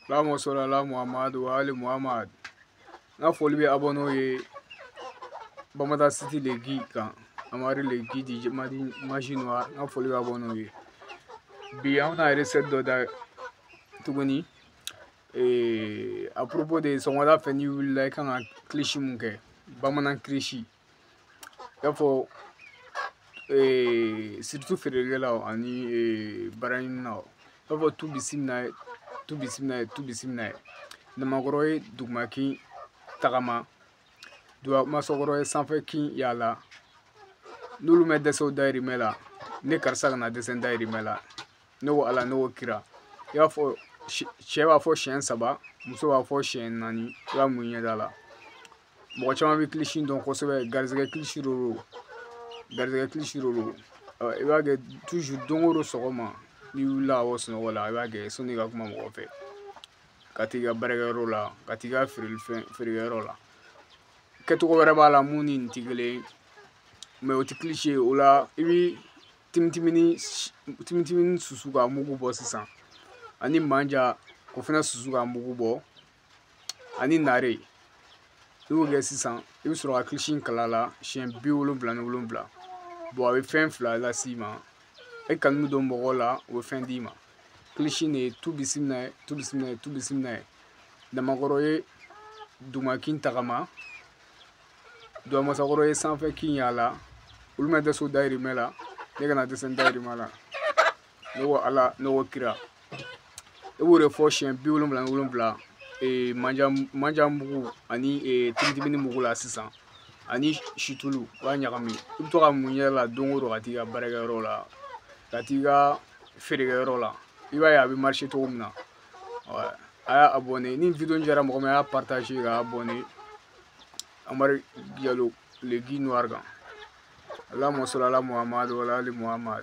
allahumma salli ala muhammad wa ali muhammad n ka foli bɛ abɔnɛw ye bamada siti le gi kan amari le gi di madi magie noire n ka foli bɛ abɔnɛw ye bi an bɛna recette dɔ da tuguni ee à propos de sɔgɔmada fɛ n'i wulila i kan ka kilisi mun kɛ bamanan kilisi i y'a fɔ surtout feerekɛlaw ani baaraɲininaw i b'a fɔ tu bisimila ye tu bisimila ye tu bisimila ye namakɔrɔ ye duguma kin tagama dugamasakɔrɔ ye sanfɛ kin yaala n'olu ma dɛsɛ u dayirimɛ la ne karisa kana dɛsɛ n dayirimɛ la ne ko ala ne ko kira i b'a fɔ cɛ b'a fɔ siɲɛ saba muso b'a fɔ siɲɛ naani i b'a mun i ɲɛda la mɔgɔ caman bɛ kilisi dɔn kosɛbɛ garizɛgɛ kilisi de don garizɛgɛ kilisi de don i b'a kɛ toujours don o don sɔgɔma n'i wulila ka bɔ sunɔgɔ la i b'a kɛ sanni ka kuma mɔgɔ fɛ ka t'i ka baarakɛyɔrɔ la ka t'i ka feerelifɛn feerekɛyɔrɔ la kɛcogo wɛrɛ b'a la min ni nin tɛ kelen ye mais o tɛ kilisi ye o la i bɛ timitimini timitimini susu ka mugu bɔ sisan ani manja o fana susu ka mugu bɔ ani nare i b'o kɛ sisan i bɛ sɔrɔ ka kilisi in kalan a la siɲɛ bi wolonwula ni wolonwula bon a bɛ fɛn fila las'i ma e kanu bɛ don mɔgɔw la o bɛ fɛn d'i ma kilisi de ye tu bisimila ye tu bisimila ye tu bisimila ye namakɔrɔ ye duguma kin tagama dugamasakɔrɔ ye sanfɛ kin yaala olu ma dɛsɛ u dayirimɛ la ne kana dɛsɛ n dayirimɛ la ne ko ala ne ko kira e b'o de fɔ siɲɛ bi wolonwula ni wolonwula ee manja manja mugu ani ee timitimini mugu la sisan ani situlu i b'a ɲagami i bɛ to k'a mun i yɛrɛ la don o don ka t'i ka baarakɛyɔrɔ la ka t'i ka feerekɛyɔrɔ la i b'a ye a bɛ marché cogo min na a y'a abonné ni video in diyara mɔgɔ min a y'a partage k'a abonné amari jalo le guy noir kan allahumma salli ala muhammad wa ala ali muhammad